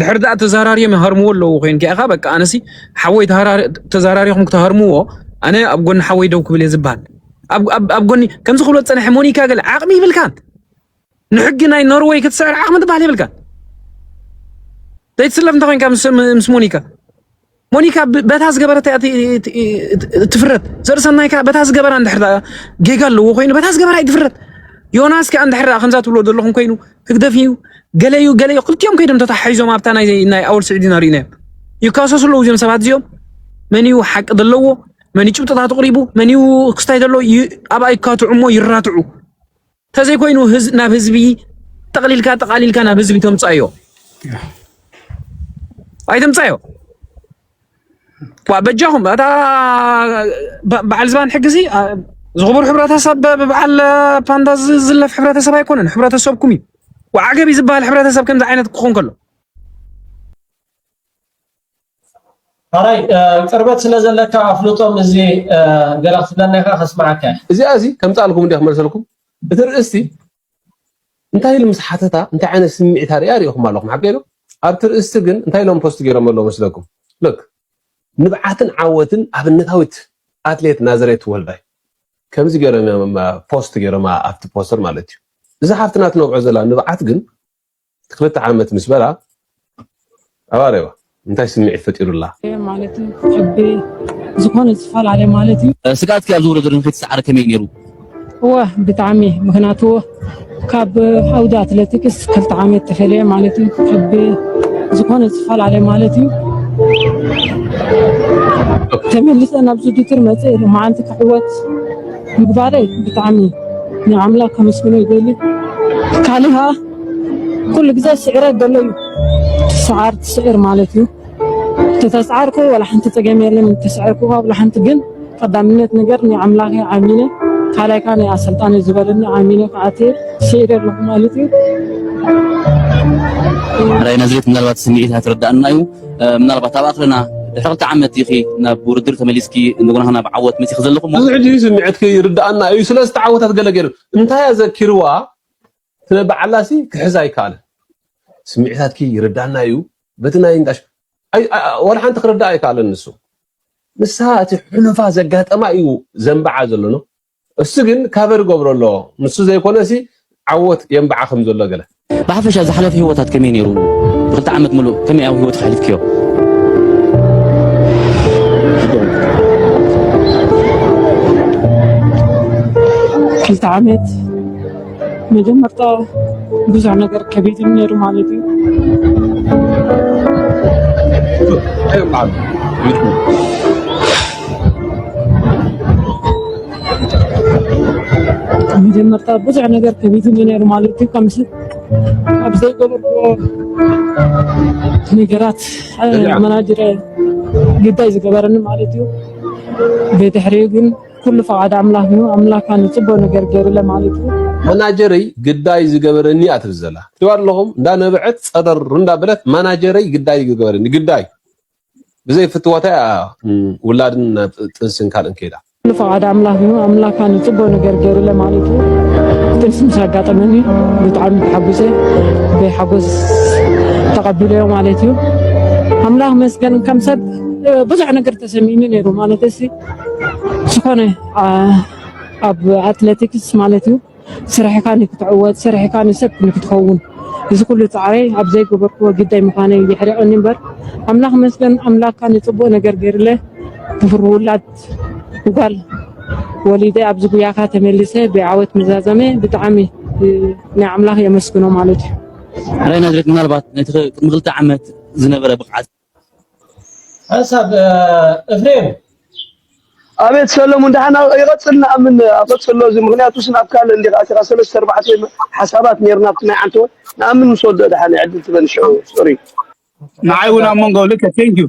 ድሕሪ ዳኣ ተዛራርዮም ይሃርምዎ ኣለዉ ኮይንካ ኢኻ በቃ ኣነሲ ሓወይ ተዛራሪኹም ክትሃርምዎ ኣነ ኣብ ጎኒ ሓወይ ደው ክብል እየ ዝበሃል ኣብ ጎኒ ከምዚ ክብሎ ዝፀንሐ ሞኒካ ገለ ዓቕሚ ይብልካን ንሕጊ ናይ ኖርወይ ክትስዕር ዓቕሚ ትበሃል የብልካን ዘይትስለፍ እንተ ኮይንካ ምስ ሞኒካ ሞኒካ በታ ዝገበረት እያ ትፍረድ ዘርእሰናይ ከዓ በታ ዝገበራ እንድሕር ጌጋ ኣለዎ ኮይኑ በታ ዝገበራ እዩ ትፍረድ ዮናስ ከዓ እንድሕር ከምዛ ትብሎ ዘለኹም ኮይኑ ህግደፍ እዩ ገለ እዩ ገለ እዩ ክልቲኦም ከይዶም ተታሓሒዞም ኣብታ ናይ ኣወል ስዒድና ርኢናዮም ይካሰሱ ኣለዉ እዚኦም ሰባት እዚኦም መን እዩ ሓቂ ዘለዎ መን እዩ ጭብጥታት ኣቕሪቡ መን እዩ ክስታይ ዘለዎ ኣብኣ ይካትዑ እሞ ይራትዑ ተዘይኮይኑ ናብ ህዝቢ ጠቕሊልካ ጠቓሊልካ ናብ ህዝቢ ተምፃዮ ኣይተምፃዮ በጃኹም እታ በዓል ዝባን ሕጊ እዚ ዝኽቡር ሕብረተሰብ ብበዓል ፓንዳ ዝዝለፍ ሕብረተሰብ ኣይኮነን፣ ሕብረተሰብኩም እዩ። ወዓገቢ ዝበሃል ሕብረተሰብ ከምዚ ዓይነት ክኾን ከሎ ሐራይ ቅርበት ስለ ዘለካ ኣፍልጦም እዚ ገለ ክትብለና ኢኻ ከስምዓካ እዚኣ እዚ ከምጻልኩም እንዲያ ክመልሰልኩም እቲ ርእስቲ እንታይ ኢሉ ምስ ሓተታ እንታይ ዓይነት ስምዒት ኣርእያ ርኢኹም ኣለኹም ሓቂ ዶ ኣብቲ ርእስቲ ግን እንታይ ኢሎም ፖስት ገይሮም ኣለዉ መስለኩም ልክ ንብዓትን ዓወትን ኣብነታዊት ኣትሌት ናዝሬት ወልዳይ ከምዚ ገይሮም ፖስት ገይሮማ ኣብቲ ፖስተር ማለት እዩ እዛ ሓፍትና ትነብዖ ዘላ ንብዓት ግን እቲ ክልተ ዓመት ምስ በላ ኣባረዋ እንታይ ስምዒት ፈጢሩላ? ማለት ሕቢ ዝኾነ ዝፈላለ ማለት እዩ። ስግኣት ከ ኣብዚ ውድድር ንከይትስዓሪ ከመይ እዩ ነይሩ? እወ ብጣዕሚ ምክንያቱ ካብ ዓውዲ ኣትለቲክስ ክልተ ዓመት ተፈልየ ማለት እዩ። ሕቢ ዝኾነ ዝፈላለ ማለት እዩ። ተመሊሰ ናብዚ ውድድር መፀ መዓንቲ ክዕወት ምግባረይ ብጣዕሚ ንኣምላክ ከመስግኖ ይደሊ ካልእ ከዓ ኩሉ ግዜ ስዕረት ዘሎ እዩ ትስዓር ትስዕር ማለት እዩ ተተስዓርኩ ዋላ ሓንቲ ፀገም የለን ተስዐርኩ ዋላ ሓንቲ ግን ቀዳምነት ነገር ናይ ኣምላኸይ ዓሚነ ካልኣይ ከዓ ናይ ኣሰልጣኒ ዝበለኒ ዓሚነ ክዓት ስዒረ ኣለኹ ማለት እዩ ራይ ናዝሬት ምናልባት ስምዒት ኣይትረዳእና እዩ ምናልባት ኣብ ኣኽርና ድሕሪ ክልተ ዓመት ኢኺ ናብ ውድድር ተመሊስኪ እንደገና ናብ ዓወት መፂኺ ዘለኹ ብዙሕ ሕጂ ስምዒትኪ ይርዳእና እዩ ስለ ዝተዓወታት ገለ ገይሩ እንታይ ኣዘኪርዋ ስለ ባዓላ ሲ ክሕዛ ኣይካኣለን ስሚዒታትኪ ይርዳና እዩ በቲ ናይ እንዳሽ ዋላ ሓንቲ ክርዳኣ ኣይካኣለን ንሱ ንሳ እቲ ሕሉፋ ዘጋጠማ እዩ ዘንባዓ ዘሎ ነው እሱ ግን ካቨር ገብሮ ኣሎ ንሱ ዘይኮነ ሲ ዓወት የንባዓ ከም ዘሎ ገለ ብሓፈሻ ዝሓለፈ ህይወታት ከመይ ነይሩ ብክልተ ዓመት ምሉእ ከመይ ኣብ ህይወት ከሕልፍክዮ ክልተ ዓመት መጀመርታ ብዙሕ ነገር ከቢድም ነይሩ ማለት እዩ መጀመርታ ብዙሕ ነገር ከቢድም ነይሩ ማለት እዩ ከምስ ኣብ ዘይገበርኩዎ ነገራት መናጅረ ግዳይ ዝገበረኒ ማለት እዩ ቤድሕሪኡ ግን ኩሉ ፈቃድ ኣምላክ እዩ ኣምላካ ንጽቦ ነገር ገሩ ለማለት እዩ። መናጀረይ ግዳይ ዝገበረኒ እያ ትብል ዘላ ትሪዋ ኣለኹም እንዳ ነበዐት ጸረር እንዳ በለት መናጀረይ ግዳይ ዝገበረኒ ግዳይ ብዘይ ፍትወታ እያ ውላድን ጥንስን ካልእን ከይዳ ኩሉ ፈቃድ ኣምላክ እዩ ኣምላካ ንጽቦ ነገር ገሩ ለማለት እዩ። ጥንስ ምስ ኣጋጠመኒ ብጣዕሚ ተሓጉሰ ብሓጎስ ተቀቢለዮ ማለት እዩ። ኣምላክ መስገን ከም ሰብ ብዙሕ ነገር ተሰሚኒ ነይሩ ማለት ዝኾነ ኣብ ኣትለቲክስ ማለት እዩ ስራሕካ ንክትዕወት ስራሕካ ንሰብ ንክትኸውን እዚ ኩሉ ፃዕረይ ኣብ ዘይገበርክዎ ግዳይ ምዃነይ የሕሪቐኒ እምበር ኣምላኽ ይመስገን ኣምላኽ ካኣ ንፅቡቕ ነገር ገይሩለ ክብሪ ውላድ ጓል ወሊደ ኣብዚ ጉያኻ ተመሊሰ ብዓወት ምዛዘመ ብጣዕሚ ናይ ኣምላኽ የመስግኖ ማለት እዩ። ሬናድሪክ ምናልባት ነቲ ቅድሚ ክልተ ዓመት ዝነበረ ብቕዓት ሓንሳብ እፍሬም ኣቤት ሰለሙን ደሓና ይቐፅል ንኣምን ኣቐፅሎ እዚ ምክንያቱ ስን ኣብ ካልእ እንዲኻ ኣቲኻ ሰለስተ ኣርባዕተ ሓሳባት ነርና ኣብቲ ናይ ዓንተወ ንኣምን ምስ ወድኦ ደሓን ዕድል ትበኒ ሽዑ ሶሪ ንዓይ እውን ኣብ መንጎ ልከ ቴንክ ዩ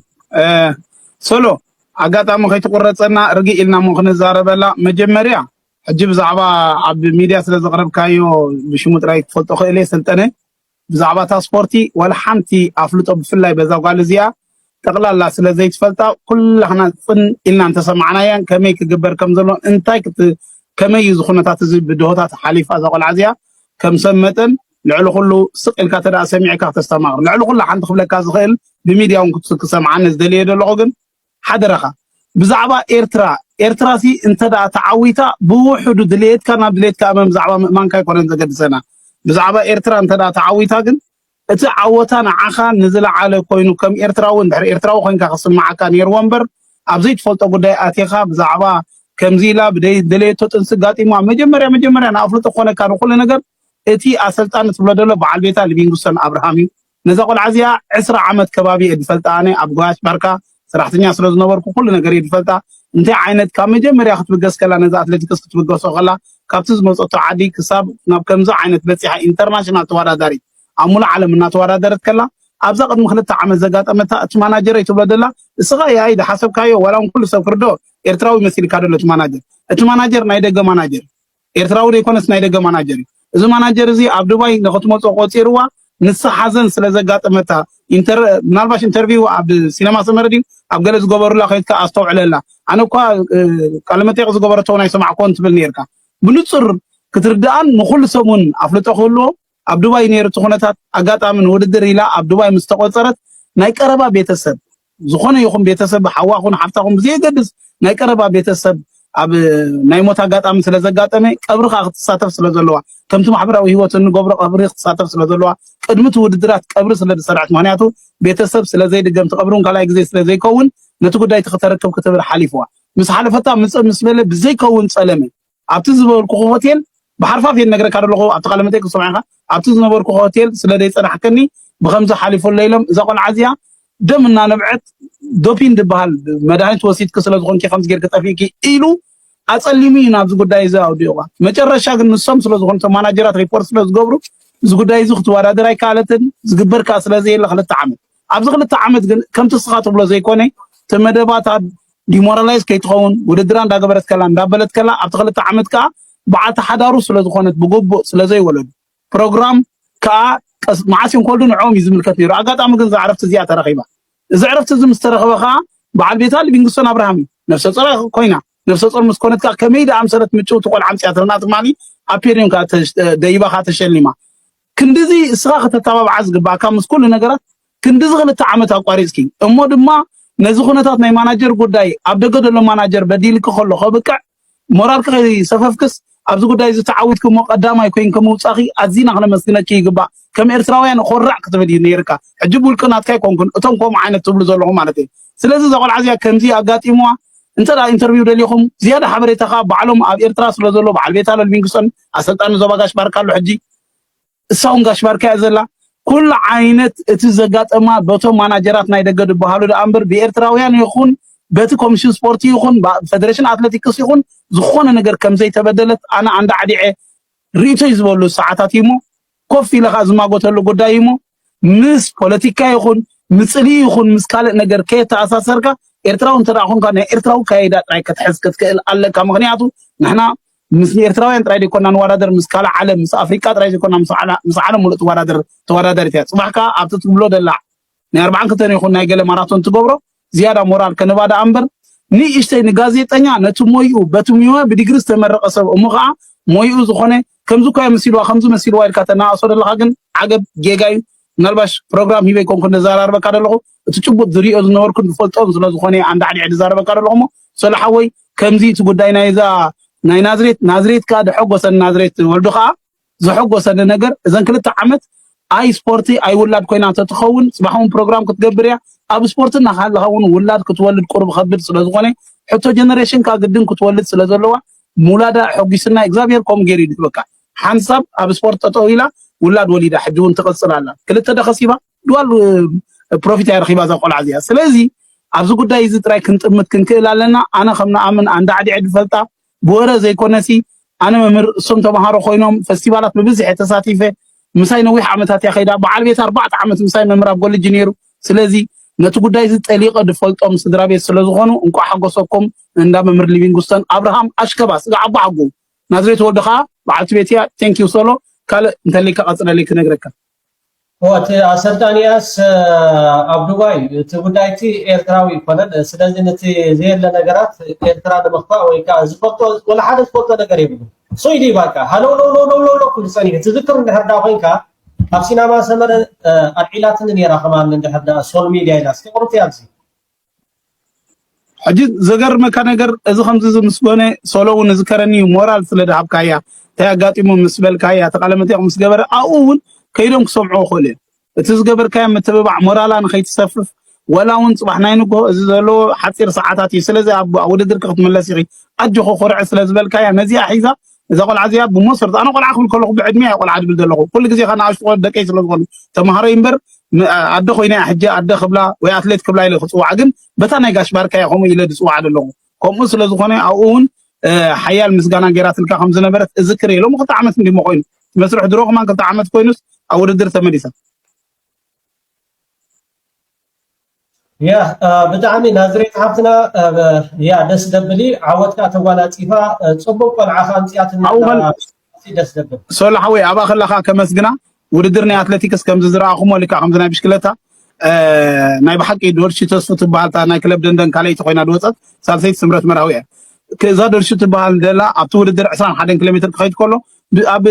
ሰሎ ኣጋጣሚ ከይትቁረፀና ርግእ ኢልና እሞ ክንዛረበላ መጀመርያ ሕጂ ብዛዕባ ኣብ ሚድያ ስለ ዘቕረብካዮ ብሽሙ ጥራይ ክፈልጦ ክእል እየ ሰልጠነ ብዛዕባ እታ ስፖርቲ ዋላ ሓንቲ ኣፍልጦ ብፍላይ በዛ ጓል እዚኣ ጠቕላላ ስለ ዘይትፈልጣ ኩላህና ጽን ኢልና እንተሰማዕናያን ከመይ ክግበር ከም ዘሎ እንታይ ክት ከመይ እዩ ዝኹነታት እዚ ብድሆታት ሓሊፋ እዛ ቆልዓ እዚኣ ከም ሰብ መጠን ልዕሊ ኩሉ ስቕ ኢልካ ተደኣ ሰሚዕካ ክተስተማቕር ልዕሊ ኩሉ ሓንቲ ክብለካ ዝኽእል ብሚድያ እውን ክሰምዓኒ ዝደልየ ዘለኹ ግን ሓደራኻ ብዛዕባ ኤርትራ ኤርትራሲ እንተድኣ ተዓዊታ ብውሑዱ ድልየትካ ናብ ድልየትካ እመን ብዛዕባ ምእማንካ ኣይኮነን ዘገድሰና ብዛዕባ ኤርትራ እንተድኣ ተዓዊታ ግን እቲ ዓወታ ንዓኻ ንዝለዓለ ኮይኑ ከም ኤርትራዊ እንድሕር ኤርትራዊ ኮንካ ክስምዓካ ነይርዎ እምበር ኣብ ዘይትፈልጦ ጉዳይ ኣቲኻ ብዛዕባ ከምዚ ኢላ ብደይ ደለየቶ ጥንሲ ጋጢማ መጀመርያ መጀመርያ ንኣፍልጦ ክኾነካ ንኹሉ ነገር እቲ ኣሰልጣኒ ትብሎ ደሎ በዓል ቤታ ሊቪንግስቶን ኣብርሃም እዩ ነዛ ቆልዓ እዚኣ ዕስራ ዓመት ከባቢ እየ ድፈልጣ ኣነ ኣብ ጎያሽ ባርካ ሰራሕተኛ ስለ ዝነበርኩ ኩሉ ነገር እየ ድፈልጣ እንታይ ዓይነት ካብ መጀመርያ ክትብገስ ከላ ነዛ ኣትለቲክስ ክትብገሶ ከላ ካብቲ ዝመጸቶ ዓዲ ክሳብ ናብ ከምዚ ዓይነት በጺሓ ኢንተርናሽናል ተዋዳዳሪት ኣብ ሙሉእ ዓለም እናተዋዳደረት ከላ ኣብዛ ቅድሚ ክልተ ዓመት ዘጋጠመታ እቲ ማናጀረይ ትብሎ ደላ እስኻ ያይ ዝሓሰብካዮ ዋላ ውን ኩሉ ሰብ ክርድኦ ኤርትራዊ መሲልካ ደሎ እቲ ማናጀር እቲ ማናጀር ናይ ደገ ማናጀር ኤርትራዊ ደይኮነስ ናይ ደገ ማናጀር እዩ እዚ ማናጀር እዚ ኣብ ዱባይ ንክትመጾ ቆጺርዋ ንሳ ሓዘን ስለ ዘጋጠመታ ኢንተር ምናልባሽ ኢንተርቪው ኣብ ሲነማ ሰመረ ድዩ ኣብ ገለ ዝገበሩላ ከይትካ ኣስተውዕለላ ኣነ እኳ ቃለ መጠይቅ ዝገበረቶ ናይ ሰማዕኮን ትብል ነርካ ብንጹር ክትርዳኣን ንኩሉ ሰብ ውን ኣፍልጦ ክህልዎ ኣብ ዱባይ ነይሩ እቲ ኩነታት ኣጋጣሚ ንውድድር ኢላ ኣብ ዱባይ ምስ ተቖጸረት ናይ ቀረባ ቤተሰብ ዝኾነ ይኹን ቤተሰብ ሓዋኹን ሓፍታኹን ብዘየገድስ ናይ ቀረባ ቤተሰብ ኣብ ናይ ሞት ኣጋጣሚ ስለ ዘጋጠመ ቀብሪ ከዓ ክትሳተፍ ስለ ዘለዋ ከምቲ ማሕበራዊ ህይወት እንገብሮ ቀብሪ ክትሳተፍ ስለ ዘለዋ ቅድሚ እቲ ውድድራት ቀብሪ ስለ ዝሰርዐት ምክንያቱ ቤተሰብ ስለ ዘይድገም እቲ ቀብሪ እውን ካልኣይ ግዜ ስለ ዘይከውን ነቲ ጉዳይ እቲ ክተረክብ ክትብል ሓሊፍዋ ምስ ሓለፈታ ምስ በለ ብዘይከውን ጸለመ ኣብቲ ዝበልኩኹ ሆቴል ብሓርፋፍ እየ ነገረካ ዘለኹ ኣብቲ ቃለ መጠይቅ ክትሰምዖ ኢኻ ኣብቲ ዝነበርኩ ሆቴል ስለ ዘይጸናሕከኒ ብከምዚ ሓሊፉለይ ኢሎም እዛ ቆልዓ እዚኣ ደም እናነብዐት ዶፒን ዝበሃል መድሃኒት ወሲድኪ ስለ ዝኾንኪ ከምዚ ጌርኪ ጠፊእኪ ኢሉ ኣጸሊሙ እዩ ናብዚ ጉዳይ እዚ ኣውዲቑዋ መጨረሻ ግን ንሶም ስለ ዝኾኑ እቶም ማናጀራት ሪፖርት ስለ ዝገብሩ እዚ ጉዳይ እዚ ክትወዳደር ኣይከኣለትን ዝግበር ከዓ ስለ ዘየለ ክልተ ዓመት ኣብዚ ክልተ ዓመት ግን ከምቲ እስኻ ትብሎ ዘይኮነ እቲ መደባታ ዲሞራላይዝ ከይትኸውን ውድድራ እንዳገበረት ከላ እንዳበለት ከላ ኣብቲ ክልተ ዓመት ከዓ በዓልቲ ሓዳሩ ስለዝኾነት ብግቡእ ስለዘይወለዱ ፕሮግራም ከዓ ቀስ መዓስ እዮም ከወልዱ ንዕኦም እዩ ዝምልከት ነይሩ ኣጋጣሚ ግን እዛ ዕረፍቲ እዚኣ ተረኺባ እዚ ዕረፍቲ እዚ ምስ ተረኽበ ከዓ በዓል ቤታ ሊቪንግስቶን ኣብርሃም እዩ ነፍሰ ጾር ኮይና ነፍሰ ጾር ምስ ኮነት ከዓ ከመይ ደኣ ኣምሰለት ምጭውቲ ቆልዓ ኣምፅያትልና ትማሊ ኣብ ፔሪዮን ከዓ ደይባ ከዓ ተሸሊማ ክንድዚ እስኻ ከተተባብዓ ዝግባኣካ ምስ ኩሉ ነገራት ክንድዚ ክልተ ዓመት ኣቋሪጽኪ እሞ ድማ ነዚ ኩነታት ናይ ማናጀር ጉዳይ ኣብ ደገ ዘሎ ማናጀር በዲልኪ ከሎ ከብቅዕ ሞራልኪ ከይሰፈፍክስ ኣብዚ ጉዳይ እዚ ተዓዊትኪ እሞ ቀዳማይ ኮይንኪ ምውጻኺ ኣዚና ክነመስግነኪ ይግባእ ከም ኤርትራውያን ኮራዕ ክትብል እዩ ነይርካ ሕጂ ብውልቂ ናትካ ኣይኮንኩን እቶም ከምኡ ዓይነት ትብሉ ዘለኹም ማለት እዩ ስለዚ እዛ ቆልዓ እዚኣ ከምዚ ኣጋጢምዋ እንተ ኢንተርቪው ደሊኹም ዝያዳ ሓበሬታ ከዓ ባዕሎም ኣብ ኤርትራ ስለ ዘሎ በዓል ቤታ ለልቪንግሶን ኣሰልጣኒ ዞባ ጋሽ ባርካ ኣሎ ሕጂ እሳውን ጋሽ ባርካ እያ ዘላ ኩሉ ዓይነት እቲ ዘጋጠማ በቶም ማናጀራት ናይ ደገ ዝበሃሉ ደኣ እምበር ብኤርትራውያን ይኹን በቲ ኮሚሽን ስፖርቲ ይኹን ፈደሬሽን ኣትሌቲክስ ይኹን ዝኾነ ነገር ከም ዘይተበደለት ኣነ ኣንዳ ዓዲዐ ርእይቶይ ዝበሉ ሰዓታት እዩሞ ኮፍ ኢለ ከዓ ዝማጎተሉ ጉዳይ እዩሞ ምስ ፖለቲካ ይኹን ምፅልኢ ይኹን ምስ ካልእ ነገር ከየተኣሳሰርካ ኤርትራዊ እንተ ኮንካ ናይ ኤርትራዊ ካይዳ ጥራይ ክትሕዝ ክትክእል ኣለካ ምክንያቱ ንሕና ምስ ኤርትራውያን ጥራይ ዘይኮና ንወዳደር ምስ ካልእ ዓለም ምስ ኣፍሪቃ ጥራይ ዘይኮና ምስ ዓለም ሙሉእ ትወዳደር ተወዳዳሪት እያ ፅባሕ ከዓ ኣብቲ ትብሎ ደላ ናይ ኣርብዓን ክልተን ይኹን ናይ ገለ ማራቶን ትገብሮ ዝያዳ ሞራል ከንባ ደኣ እምበር ንእሽተይ ንጋዜጠኛ ነቲ ሞይኡ በቲ ሙያ ብዲግሪ ዝተመረቐ ሰብ እሞ ከዓ ሞይኡ ዝኾነ ከምዚ እኳ መሲልዋ ከምዚ መሲልዋ ኢልካ ተናኣሶ ዘለኻ ግን ዓገብ ጌጋ እዩ ምናልባሽ ፕሮግራም ሂበይ ኮንኩ ንዘራርበካ ደለኹ እቲ ጭቡጥ ዝሪኦ ዝነበርኩን ዝፈልጦን ስለ ዝኾነ ኣንዳዕዲዐ ዝዛረበካ ደለኹ እሞ ሰለ ሓወይ ከምዚ እቲ ጉዳይ ናይዛ ናይ ናዝሬት ናዝሬት ከዓ ደሐጎሰን ናዝሬት ወልዱ ከዓ ዘሐጎሰኒ ነገር እዘን ክልተ ዓመት ኣይ ስፖርቲ ኣይ ውላድ ኮይና ተትኸውን ጽባሕ እውን ፕሮግራም ክትገብር እያ ኣብ ስፖርቲ እናሃለኻ እውን ውላድ ክትወልድ ቁርብ ከብድ ስለ ዝኾነ ሕቶ ጀነሬሽንካ ግድን ክትወልድ ስለ ዘለዋ ምውላዳ ሕጒስና እግዚኣብሔር ከምኡ ገይሩ እዩ በቃ ሓንሳብ ኣብ ስፖርት ጠጠው ኢላ ውላድ ወሊዳ ሕጂ እውን ትቕጽል ኣላ ክልተ ደኸሲባ ድዋል ፕሮፊት እያ ረኺባ እዛ ቆልዓ እዚኣ ስለዚ ኣብዚ ጉዳይ እዚ ጥራይ ክንጥምት ክንክእል ኣለና ኣነ ከም ንኣምን ኣንዳዕዲዐ ድፈልጣ ብወረ ዘይኮነሲ ኣነ መምህር እሶም ተምሃሮ ኮይኖም ፈስቲቫላት ብብዝሒ ተሳቲፈ ምሳይ ነዊሕ ዓመታት እያ ከይዳ በዓል ቤት ኣርባዕተ ዓመት ምሳይ መምህር ኣብ ኮሌጅ ነይሩ ስለዚ ነቲ ጉዳይ እዚ ጠሊቐ ድፈልጦም ስድራ ቤት ስለ ዝኾኑ እንቋዕ ሓጎሰኩም እንዳ መምህር ሊቪንግስቶን ኣብርሃም ኣሽከባ ስጋ ዓቦ ሓጎ ናዝሬት ወልዶ ከዓ በዓልቲ ቤት እያ ቴንኪው ሶሎ ካልእ እንተልይካ ቀፅለለይ ክነግረካ እቲ ኣሰልጣኒ ያስ ኣብ ዱባይ እቲ ጉዳይ እቲ ኤርትራዊ ይኮነን ስለዚ ነቲ ዘየለ ነገራት ኤርትራ ንምኽፋእ ወይ ከዓ ዝፈልጦ ወላ ሓደ ዝፈልጦ ነገር የብሉ ሶይ ድዩ ባቃ ሃለውለውለውለውለው ክብል ፀኒሑ ትዝክር እንድሕር ዳ ኮንካ ኣብ ሲናማ ሰመረ ኣልዒላትኒ ነይራ ከማን እንድሕር ዳ ሶል ሚድያ ኢላ እስኪ ቅሩቲ ኣብዚ ሕጂ ዘገርመካ ነገር እዚ ከምዚ ምስ ኮነ ሶሎ እውን ዝከረኒ እዩ ሞራል ስለ ድሃብካያ እንታይ ኣጋጢሙ ምስ በልካያ እቲ ቃለ መጠይቕ ምስ ገበረ ኣብኡ እውን ከይዶም ክሰምዑ ክኽእሉ እዮም እቲ ዝገበርካዮ ምትብባዕ ሞራላ ንኸይትሰፍፍ ወላ እውን ፅባሕ ናይ ንግሆ እዚ ዘለዎ ሓፂር ሰዓታት እዩ ስለዚ ኣብ ውድድርኪ ክትምለስ ኢኺ ኣጆኺ ኩርዒ ስለ ዝበልካያ ነዚኣ ሒዛ እዛ ቆልዓ እዚኣ ብሞሰርት ኣነ ቆልዓ ክብል ከለኹ ብዕድሜ ቆልዓ ድብል ዘለኹ ኩሉ ግዜ ከ ንኣሽቱ ቆልዑ ደቀይ ስለ ዝኾኑ ተምሃረይ እምበር ም- ኣ- ኣደ ኮይነ እያ ሕጂ ኣደ ክብላ ወይ ኣትሌት ክብላ ኢለ ክፅዋዓ ግን በታ ናይ ጋሽ ባርካ እየ ከምኡ ኢለ ዝፅዋዓ ዘለኹ ከምኡ ስለ ዝኾነ ኣብኡ እውን እ፣ ሓያል ምስጋና ገይራትልካ ከም ዝነበረት እዝክር እየ ሎሚ ክልተ ዓመት እንዲሞ ኮይኑ እቲ መስርሕ ድሮ ከማን ክልተ ዓመት ኮይኑስ ኣብ ውድድር ተመሊሳ ያ ብጣዕሚ ናዝሬት ሓፍትና ያ ደስ ደብሊ ዓወትካ ተጓናፂፋ ፅቡቅ ቆልዓ ከ ኣምፅኣትና ደስ ደብል ሶሎ ሓወይ ኣብኣ ከለካ ከመስግና ውድድር ናይ ኣትሌቲክስ ከምዚ ዝረኣኹሞ ልክዕ ከምዚ ናይ ብሽክለታ ናይ ብሓቂ ዶርሺ ተስፉ ትበሃል እታ ናይ ክለብ ደንደን ካልኣይቲ ኮይና ዝወፀት ሳልሰይቲ ስምረት መርሃዊ እያ እዛ ዶርሺ ትበሃል ደላ ኣብቲ ውድድር 21 ኪሎ ሜትር ክኸይድ ከሎ ብ ኣብ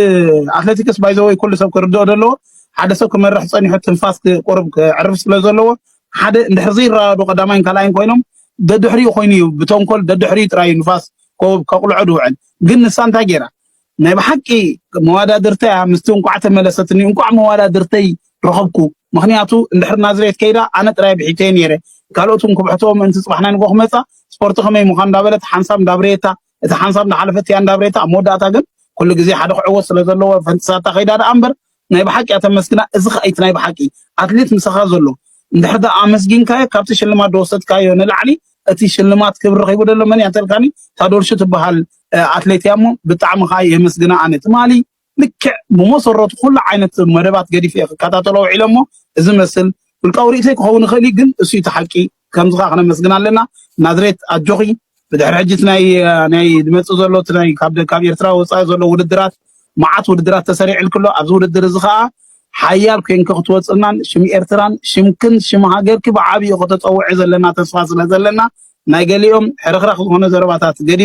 ኣትለቲክስ ባይ ዘ ወይ ኩሉ ሰብ ክርድኦ ዘለዎ ሓደ ሰብ ክመርሕ ጸኒሑ ትንፋስ ክ- ቁሩብ ከዕርፍ ስለ ዘለዎ ሓደ እንድሕር ዘይረዳዶ ቀዳማይን ካልኣይን ኮይኖም ደድሕሪኡ ኮይኑ እዩ ብተንኮል ደድሕሪኡ ጥራይ እዩ ንፋስ ኮ- ከቁልዖ ዝውዕል ግን ንሳ እንታይ ገይራ ናይ ብሓቂ መዋዳድርተይ እያ ምስቲ እንቋዕ ተመለሰትኒ እንቋዕ መዋዳድርተይ ረኸብኩ ምክንያቱ እንድሕር ናዝሬት ከይዳ ኣነ ጥራይ ብሒተየ ነይረ ካልኦትን ክብሕትዎ ምእንቲ ጽባሕ ናይ ንጎ ክመጻ ስፖርቲ ከመይ ምዃን እንዳበለት ሓንሳብ እንዳብረየታ እቲ ሓንሳብ እናሓለፈት እያ እንዳብሬታ ኣብ መወዳእታ ግን ኩሉ ግዜ ሓደ ክዕወት ስለ ዘለዎ ፈንጢሳታ ከይዳ ደኣ እምበር ናይ ብሓቂ እያ ተመስግና እዚ ከዓ እቲ ናይ ብሓቂ ኣትሌት ምሳኻ ዘሎ እንድሕር ደኣ ኣመስጊንካዮ ካብቲ ሽልማት ዝወሰድካዮ ንላዕሊ እቲ ሽልማት ክብሪ ረኺቡ ደሎ መን እያ እንተልካኒ ታዶልሹ ትበሃል ኣትሌት እያ እሞ ብጣዕሚ ከዓ የመስግና ኣነ ትማሊ ልክዕ ብመሰረቱ ኩሉ ዓይነት መደባት ገዲፈ እየ ክከታተሎ ውዒለ እሞ እዚ መስል ውልቃዊ ርእይቶይ ክኸውን ይኽእል እዩ ግን እሱ እቲ ሓቂ ከምዚ ከዓ ክነመስግን ኣለና ናዝሬት ኣጆኺ ብድሕሪ ሕጂ እቲ ናይ ናይ ዝመፅእ ዘሎ እቲ ናይ ካብ ካብ ኤርትራ ወፃኢ ዘሎ ውድድራት መዓት ውድድራት ተሰሪዕልክ ኣሎ ኣብዚ ውድድር እዚ ከዓ ሓያል ኮንኪ ክትወፅእናን ሽም ኤርትራን ሽምክን ሽም ሃገርኪ ብዓብዩ ከተፀውዒ ዘለና ተስፋ ስለ ዘለና ናይ ገሊኦም ሕርኽራኽ ዝኾነ ዘረባታት ገዲፍ